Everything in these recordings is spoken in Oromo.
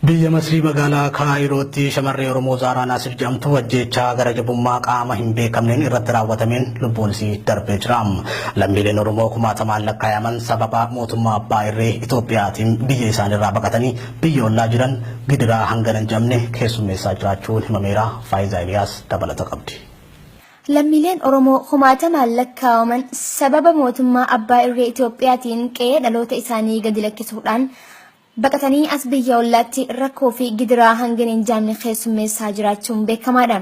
Biyya Masrii magaalaa Kaayirootti shamarree Oromoo Zaaraa Naasir jedhamtu ajjeechaa gara jabummaa qaama hin beekamneen irratti raawwatameen lubbuun isii darbee jira. Lammiileen Oromoo kumaatamaan lakkaayaman sababa mootummaa abbaa irree Itoophiyaatiin biyya isaaniirraa baqatanii biyya ollaa jiran gidiraa hangana hin jedhamne keessummeessaa jiraachuun himameera. Faayizaa Iliyaas dabalata qabdi. Lammiileen Oromoo kumaatamaan lakkaawaman sababa mootummaa abbaa irree Itoophiyaatiin qe'ee dhaloota isaanii gadi lakkisuudhaan Baqatanii as biyya ollaatti rakkoo fi gidiraa hangana hin jaamne keessummeessaa jiraachuun beekamaadha.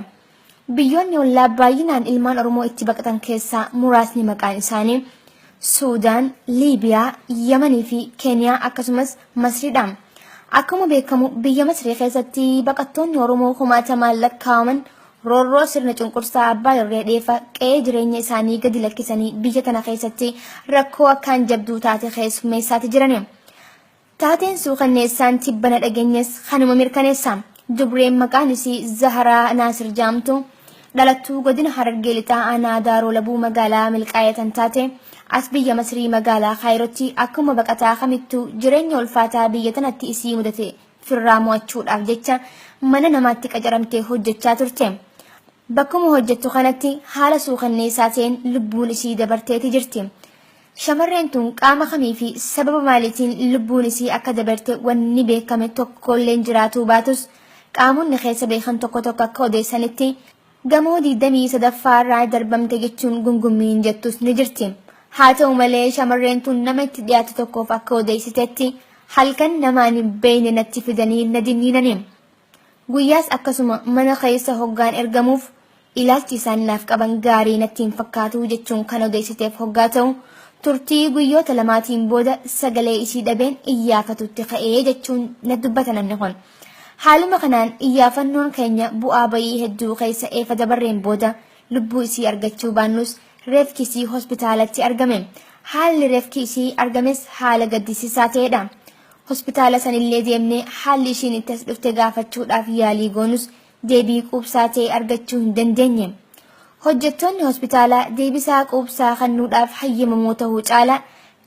Biyyoonni ollaa baay'inaan ilmaan Oromoo itti baqatan keessaa muraasni maqaan isaanii Suudaan, Liibiyaa, Yamanii fi Keeniyaa akkasumas Masriidha. Akkuma beekamu biyya Masrii keessatti baqattoonni Oromoo kumaatamaan lakkaa'aman roorroo sirna cunqursaa abbaa irree dheefa qe'ee jireenya isaanii gadi lakkisanii biyya tana keessatti rakkoo akkaan jabduu taate keessummeessaati jirani. Taateen suukanneessaan tibbana dhageenyes kanuma mirkaneessa. Dubreen maqaan isii Zaharaa Naasir jaamtu dhalattuu godina Harargee Lixaa aanaa Daaroo Labuu magaalaa Milqaayee tan taate as biyya Masrii magaalaa Kaayirootti akkuma baqataa kamittuu jireenya ulfaataa biyya tanatti isii mudate firraa mo'achuudhaaf jecha mana namaatti qacaramtee hojjechaa turte. Bakkuma hojjettu kanatti haala suukanneessaa ta'een lubbuun isii dabarteeti jirti. Shamarreen tun qaama kamii fi sababa maaliitiin lubbuun isii akka dabarte wanni beekame tokkolleen jiraatuu baatus qaamonni keessa beekan tokko tokko akka odeessanitti gamoo 23ffaa irraa darbamte jechuun gungummiin jettus ni jirti. Haa ta'u malee shamarreen tun nama itti dhiyaatu tokkoof akka odeessitetti halkan namaan hin beeyne natti fidanii na dinniinani. Guyyaas akkasuma mana keessa hoggaan ergamuuf ilaalchi isaan naaf qaban gaarii natti hin fakkaatu jechuun kan odeessiteef hoggaa ta'u turtii guyyoota lamaatiin booda sagalee isii dhabeen iyyaafatutti ka'ee jechuun na dubbata namni kun. Haaluma kanaan iyyaafannoon keenya bu'aa bayii hedduu keessa eefa dabarreen booda lubbuu isii argachuu baannus reefki isii hospitaalatti argame. Haalli reefki isii argames haala gaddisiisaa ta'edha. Hospitaala sanillee deemnee haalli ishiin itti as dhufte gaafachuudhaaf yaalii goonus deebii quubsaa ta'e argachuu hin dandeenye. Hojjettoonni hospitaalaa deebisaa quubsaa kennuudhaaf hayyamamoo ta'uu caalaa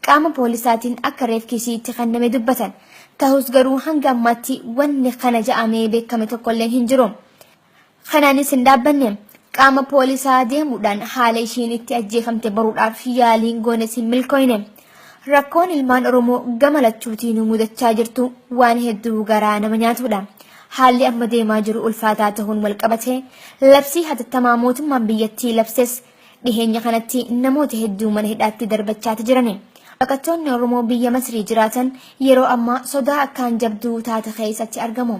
qaama poolisaatiin akka reefki ishii itti kenname dubbatan. Tahus garuu hanga ammaatti wanni kana ja'amee beekame tokkolleen hin jiru. Kanaanis hin dhaabbanne. Qaama poolisaa deemuudhaan haala isheen itti ajjeefamte baruudhaaf yaaliin goones hin milkooyne. Rakkoon ilmaan Oromoo gama lachuutiin nu mudachaa jirtu waan hedduu garaa nama nyaatudha. Haalli amma deemaa jiru ulfaataa ta'uun wal qabatee labsii hatattamaa mootummaan biyyattii labses dhiheenya kanatti namoota hedduu mana hidhaatti darbachaati jirani. Baqattoonni Oromoo biyya Masrii jiraatan yeroo ammaa sodaa akkaan jabduu taate keessatti argamu.